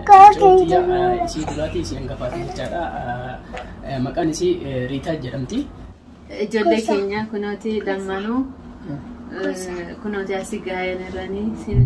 Isii duraatii isheen gafaatan jechaadha. Maqaan isii Riitaa jedhamti. Ijoollee keenya kunooti lammanuu kunooti asii gaa'een irranii siin.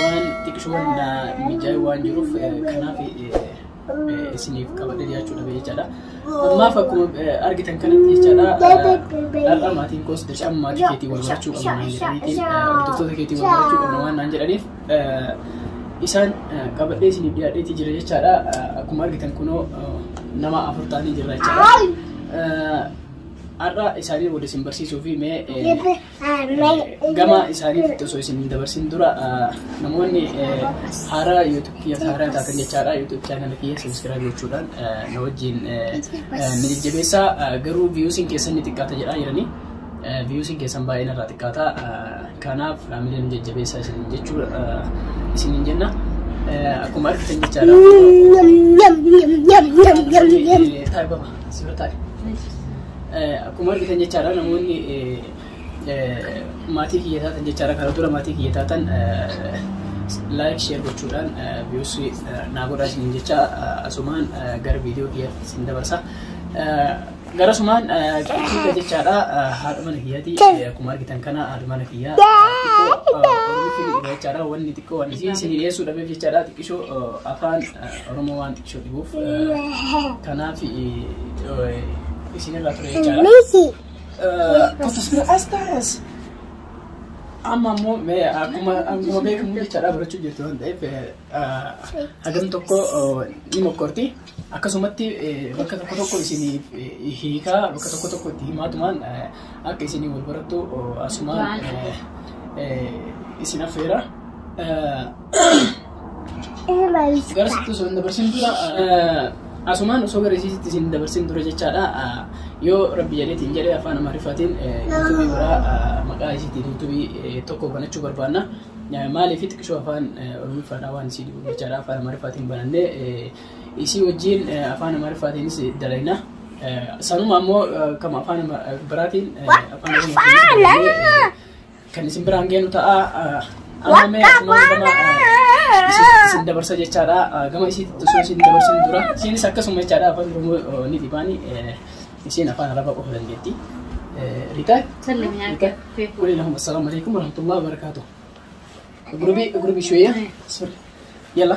waan xiqshoon na mijaa'e waan jiruuf eh, kanaaf eh, eh, isiniif qabadhe dhiyaachuu dhabe jechaadha. Ammaaf akkuma eh, argitan kanatti jechaadha eh, har'a maatiin koos dirqama maatii keetii wal barachuu qabna naan jedhaniitiin eh, hordoftoota keetii wal barachuu qabna waan naan jedhaniif eh, isaan eh, qabadhee isiniif dhiyaadheetii jira jechaadha. Eh, Akkuma argitan kunoo eh, nama afur ta'anii jirra jechaadha. Eh, Har'a isaanii wal isin barsiisuu fi mee eh, gama isaaniitti osoo isin hin dabarsin dura namoonni haaraa yuutuub kiyya haaraa taatan jechaadha yuutuub chaanala kiyya sabiskiraayib gochuudhaan na wajjin ni jajjabeessaa garuu viyuusiin keessan ni xiqqaata jedhaa jiranii viyuusiin keessan baay'een irraa xiqqaata kanaaf miiliyoon jajjabeessaa isin jechuu isin hin jenna akkuma argitan jechaadha taa'ibama sibira taa'e Akkuma argitan jechaadha namoonni maatii kiyya taatan jechaadha kana dura maatii kiyya taatan laayik sheer gochuudhaan viiyuusi naa godhaa isiniin jecha asumaan gara viidiyoo kiyyaatti isin dabarsa. Gara sumaan qixxiita jechaadha haadha mana kiyyaati akkuma argitan kana haadha mana kiyyaa xiqqoo jechaadha wanni xiqqoo wanni isin dhiyeessuu dhabeef jechaadha xiqqishoo afaan oromoo waan Shubuuf kanaaf isinirraa ture jechaadha. Messi. Kutus bira as taas. Amma immoo mee akkuma akkuma beekamu jechaadha barachuu jirtu waan ta'eef hagam tokko ni mokkorti. Akkasumatti bakka tokko tokko isiniif hiikaa bakka tokko tokko itti himaatumaan akka isinii wal barattu asumaan isin affeera. Gara sitti osoo hin dabarsin dura asumaan osoo gara isiitti isin dabarsin dura jechaadha. Yoo rabbi jedheetiin jedhee afaan amaariffaatiin yuutuubii biraa maqaa isiitiin yuutuubii tokko banachuu barbaanna. Maaliif xiqqishoo afaan oromiffaadhaa waan isii dhibu jechaadha afaan amaariffaatiin banannee Isii wajjiin afaan Amaariffaatiinis dalayna. Sanuma ammoo kan afaan biraatiin afaan Oromootiin kan isin biraan geenu ta'a. Amma mee akkuma gama isin dabarsa jechaadha. Gama isiitti osoo isin dabarsin dura isiinis akkasuma jechaadha afaan Oromoo ni dhibaani. Isiin afaan Arabaa qofa dandeetti. Riitaa? Riitaa? Waliilakum assalaamu alaikum warahmatullahi wabarakaatuh. Gurubii gurubii shuyyaa. Yalla.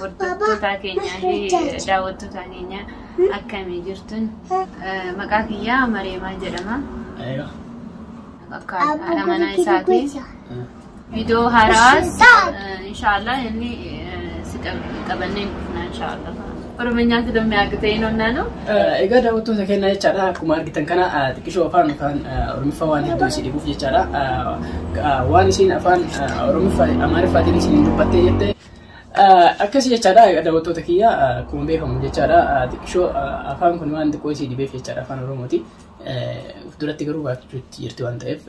Hordoftoota keenyaa fi daawwattoota keenyaa akkamii jirtun? Maqaa kiyyaa Mareemaa jedhama. Akka haadha manaa isaati. Viidiyoo haaraas inshaallah inni si qabannee dhufna inshaallah. Oromenyaa ti domme agitee hin onnaanu. Egaa daawwattoota keenya jechaadha akkuma argitan kana xiqqishoo afaan afaan oromiffa waan hedduu isin dhibuuf jechaadha waan isin afaan oromiffa amaariffaatiin isin dubbattee jette akkas jechaadha daawwattoota kiyya akkuma beekamu jechaadha xiqqishoo afaan kun waan xiqqoo isin dhibeef jechaadha afaan oromooti of duratti garuu baachuutti jirti waan ta'eef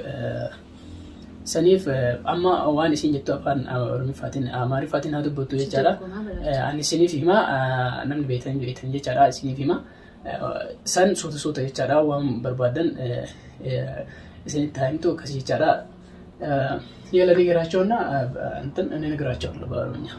Saniif amma waan isin jettu afaan Oromiffaatiin Amaariffaatiin haa dubbattu jechaadha. Ani isiniif hima namni beektan beektan jechaadha isiniif hima. San suuta suuta jechaadha waan barbaadan isinitti haa himtu akkas jechaadha. Yala ni garaachoonna inni ni garaachoonna baarumyaa.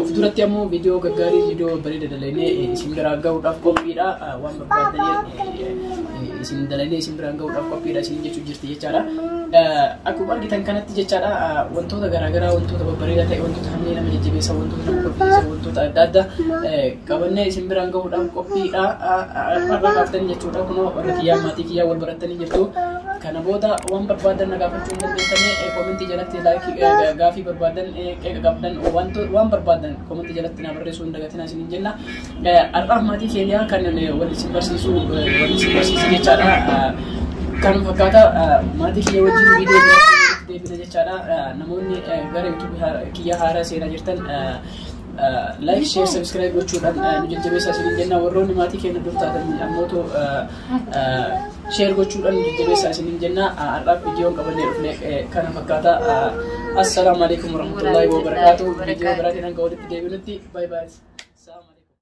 Ofduratti ammoo viidiyoo gaggaarii viidiyoo bareeda dalaynee isin biraan gahuudhaaf qophiidha. Waan barbaadanii isin dalaynee isin biraan gahuudhaaf qophiidha isin jechuun jirti jechaadha. Akkuma argitan kanatti jechaadha wantoota garaagaraa wantoota babbareedaa ta'e wantoota hamilee nama jajjabeessan wantoota nama kolfiisan wantoota adda addaa qabannee isin biraan gahuudhaaf qophiidha. Har'a kaaftanii jechuudha kunoo warra kiyyaa maatii kiyyaa wal barattanii jirtu. Kana booda waan barbaadan na gaafachuu hin dandeessanii koomentii jalatti laayikii gaafii barbaadan qeeqa qabdan wanto waan barbaadan komantii jalatti naa barreessuu hin dagatinaa isiniin jenna. Har'aaf maatii keenya kan wal isin barsiisu wal isin barsiisu jechaadha. Kan fakkaata maatii keenya wajjin viidiyoo biraatti deebina jechaadha. Namoonni gara YouTube kiyya haaraa seenaa jirtan like, share, subscribe gochuudhaan nu jajjabeessaa isiniin jenna. Warroonni maatii keenya dur taatan ammoo Sheer gochuudhaan jajjabeessaa isiniin jenna. Har'aaf viidiyoon qabannee dhufne kana fakkaata. Assalaamu alaikum warahmatullaahi wabarakaatu. Viidiyoo biraatiin hanga walitti deebinutti. Bye bye.